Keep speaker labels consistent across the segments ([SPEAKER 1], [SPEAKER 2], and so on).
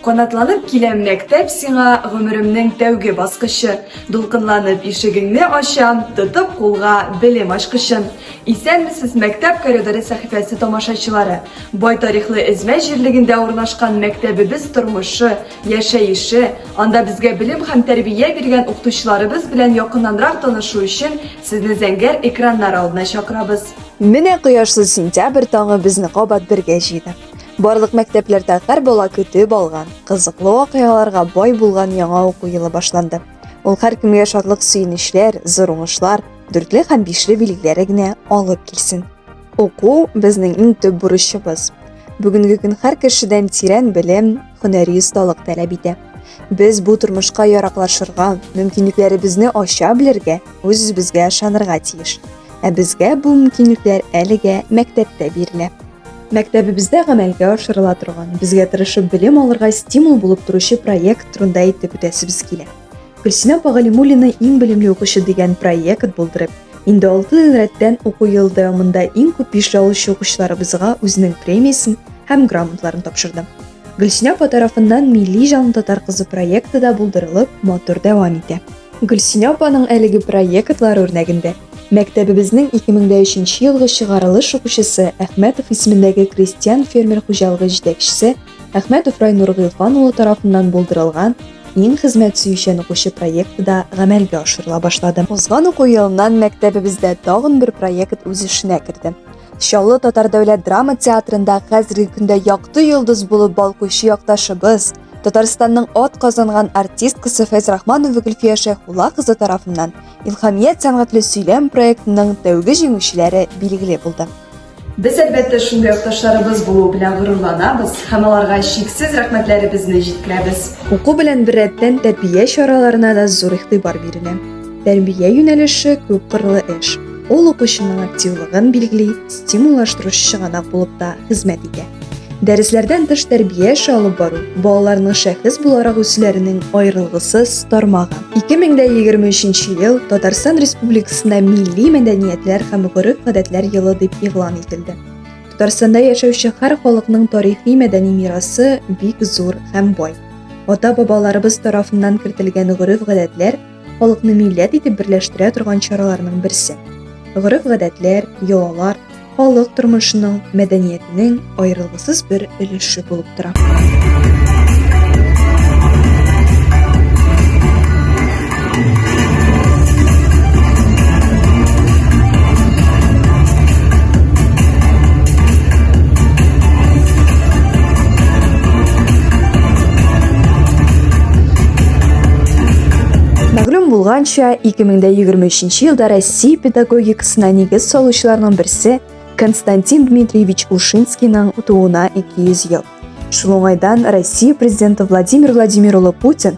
[SPEAKER 1] Канатланып киләм мәктәп сиңа гомеремнең тәүге баскычы. Дулкынланып ишегеңне ачам, тотып кулга белем ачкычын. Исәнмесез мәктәп коридоры сәхифәсе тамашачылары. Бай тарихлы Эзмә җирлегендә урнашкан мәктәбебез тормышы, яшәеше, анда безгә белем һәм тәрбия биргән укытучыларыбыз белән якыннанрак танышу өчен сезне зәңгәр экраннар алдына чакырабыз. Менә кояшлы
[SPEAKER 2] сентябрь таңы безне кабат бергә җыйды. Барлык мәктәпләрдә гәр бала көтеп алган, кызыклы вакыйгаларга бай булган яңа уку елы башланды. Ул һәркемгә шатлык-сөенечләр, зур уңышлар, дүртле һәм бишле билгеләре генә алып килсен! Уку безнең иң төп бурычыбыз. Бүгенге көн һәр кешедән тирән белем, һөнәри осталык таләп итә. Без бу тормышка яраклашырга, мөмкинлекләребезне ача белергә, үз-үзебезгә ышанырга тиеш. Ә безгә бу мөмкинлекләр әлегә мәктәптә бирелә. Мәктәбебездә гамәлгә ашырыла торган, безгә тырышып белем алырга стимул булып торучы проект турында әйтеп үтәсебез килә. Гөлсинә апа Галимуллина иң белемле укучы дигән проект булдырып, Инде алты ел рәттән уку ел дәвамында иң күп биш алучы укучыларыбызга үзенең премиясен һәм грамоталарын тапшырды. Гөлсинә апа тарафыннан Милли җан татар кызы проекты да булдырылып, матур дәвам итә. Гөлсинә апаның әлеге проектлар үрнәгендә мәктәбебезнең 2003 елгы чыгарылыш укучысы Әхмәтов исемендәге крестьян-фермер хуҗалыгы җитәкчесе Әхмәтов Райнур Гыйлфан улы тарафыннан булдырылган Иң хезмәт сөючән укучы проекты да гамәлгә ашырыла башлады. Узган уку елыннан мәктәбебездә тагын бер проект үз эшенә керде. Чаллы татар дәүләт драма театрында хәзерге көндә якты йолдыз булып балкучы якташыбыз, Татарстанның ат казанган артисткасы Фәйз Рахманова Гөлфия Шәйхулла кызы тарафыннан Илхамият сәнгатьле сөйләм проектының тәүге җиңүчеләре билгеле булды. Без, әлбәттә,
[SPEAKER 1] шундый якташларыбыз булу белән горурланабыз һәм аларга чиксез рәхмәтләребезне җиткерәбез. Уку белән беррәттән
[SPEAKER 2] тәрбия чараларына да зур игътибар бирелә. Тәрбия юнәлеше күпкырлы эш. Ул укучының активлыгын билгели, стимуллаштыручы чыганак булып та хезмәт итә. Дәресләрдән тыш тәрбия эше алып бару балаларның шәхес буларак үсүләренең аерылгысыз тармагы. 2023 ел Татарстан Республикасында милли мәдәниятләр һәм гореф-гадәтләр елы дип игълан ителде. Татарстанда яшәүче һәр халыкның тарихи мәдәни мирасы бик зур һәм бай. Ата-бабаларыбыз тарафыннан кертелгән гореф-гадәтләр халыкны милләт итеп берләштерә торган чараларның берсе. Гореф-гадәтләр, йолалар халык тормышының, мәдәниятенең аерылгысыз бер өлеше булып тора. Мәгълүм булганча, 2023 елда Россия педагогикасына нигез салучыларның берсе Константин Дмитриевич Ушинскийның тууына 200 ел. Шул уңайдан Россия президенты Владимир Владимир улы Путин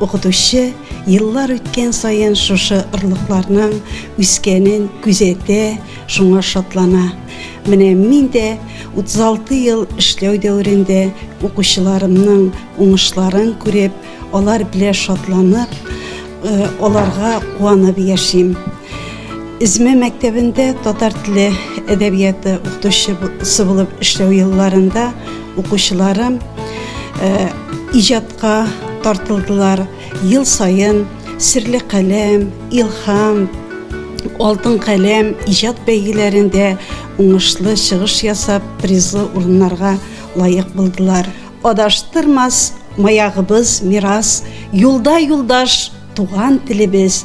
[SPEAKER 3] Укытучы еллар үткән саен шушы орлыкларның үскәнен күзәтә, шуңа шатлана. Менә мин дә 36 ел эшләү дәверендә укучыларымның уңышларын күреп, алар белән шатланып, э, аларга куанып яшим. Изме мәктәбендә татар теле әдәбияты укытучысы булып эшләү елларында укучыларым э, иҗат Ка тартылдылар ел саен Серле каләм, Илһам, Алтын каләм иҗат бәйгеләрендә уңышлы чыгыш ясап, призлы урыннарга лаек булдылар. Адаштырмас маягыбыз, мирас, юлда юлдаш, туган телебез,